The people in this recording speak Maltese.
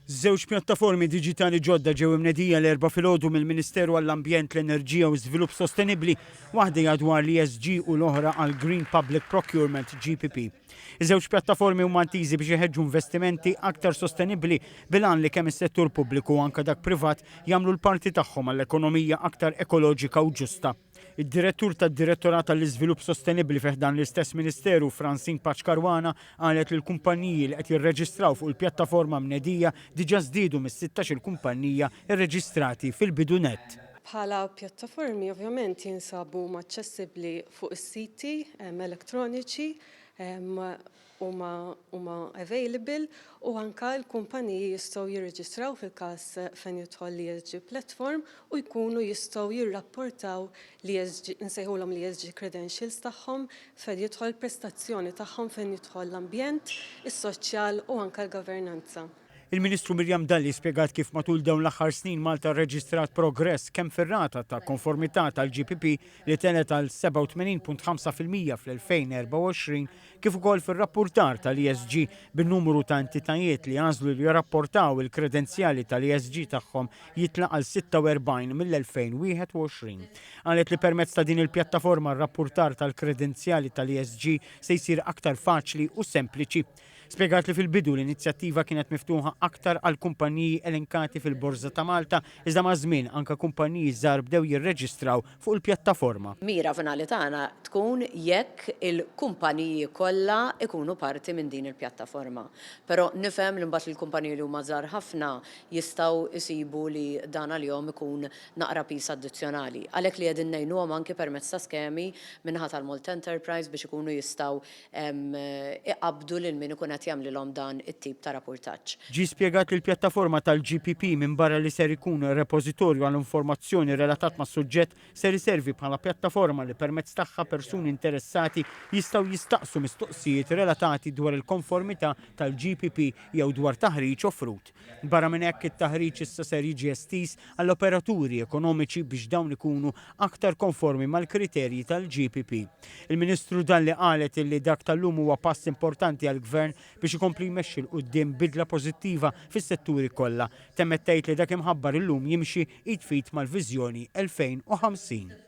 Żewġ pjattaformi diġitali ġodda ġew imnedija l-Erbgħa filgħodu mill-Ministeru għall-Ambjent, l-Enerġija u Żvilupp Sostenibbli, waħda hija dwar l-ESG u l-oħra għal Green Public Procurement, GPP. Iż-żewġ pjattaformi huma intiżi biex iħeġġu investimenti aktar sostenibbli bil-għan li kemm is-settur pubbliku u anke dak privat jagħmlu l-parti tagħhom għall-ekonomija aktar ekoloġika u ġusta. Id-Direttur tad-Direttorat għall-Iżvilupp Sostenibbli fi ħdan l-istess Ministeru, Francine Paċ Caruana, qalet li l-kumpanniji li qed jirreġistraw fuq il-pjattaforma mnedija diġà żdiedu mis-sittax il-kumpannija rreġistrati fil-bidu nett. Bħala pjattaformi ovvjament jinsabu huma aċċessibbli fuq is-siti elettroniċi huma huma available u anke l-kumpaniji jistgħu jirreġistraw fil-każ fejn jidħol l-ESG platform u jkunu jistgħu jirrapportaw l-ESG, insejħulhom l-ESG credentials tagħhom, fejn jidħol il-prestazzjoni tagħhom fejn jidħol l-ambjent, is-soċjal u anke l-governanza. Il-Ministru Miriam Dalli spjegat kif matul dawn l-aħħar snin Malta rreġistrat progress kemm fir-rata ta' konformità tal-GPP li telgħet għal 87.5 fil-mija fl-2024 kif ukoll fir-rappurtar tal-ESG bin-numru ta' entitajiet li għażlu li jirrapportaw il-kredenzjali tal-ESG tagħhom jitla' għal 46 mill-2021. Qalet li permezz ta' din il-pjattaforma r-rappurtar tal-kredenzjali tal-ESG se jsir aktar faċli u sempliċi. Spjegat li fil-bidu l-inizjattiva kienet miftuħa aktar għal kumpanniji elenkati fil-Borża ta' Malta iżda maż-żmien anke kumpanniji żgħar bdew jirreġistraw fuq il-pjattaforma. Mira finali tagħna tkun jekk il-kumpaniji kollha jkunu parti minn din il-pjattaforma. Però nifhem li mbagħad lill-kumpaniji li huma żgħar ħafna jistgħu jsibu li dan għalihom ikun naqra piż addizzjonali. Għalhekk li qegħdin ngħinuhom anki permezz ta' skemi min-naħa tal-Malta Enterprise biex ikunu jistgħu iqabbdu lil min ikun qed jagħmlilhom dan it-tip ta' rapurtaġġ. Ġie spjegat li l-pjattaforma tal-GPP minbarra li ser ikun repożitorju għal informazzjoni relatat mas-suġġett, ser iservi bħala pjattaforma li permezz tagħha persuni interessati jistgħu jistaqsu mistoqsijiet relatati dwar il-konformità tal-GPP jew dwar taħriġ offrut. Barra minn hekk, it-taħriġ issa ser jiġi estiż għall-operaturi ekonomiċi biex dawn ikunu aktar konformi mal-kriterji tal-GPP. Il-Ministru Dalli qalet illi dak tal-lum huwa pass importanti għall-Gvern biex ikompli jmexxi 'l quddiem bidla pożittiva fis-setturi kollha. Temmet tgħid li dak imħabbar illum jimxi id f'id mal-Viżjoni 2050.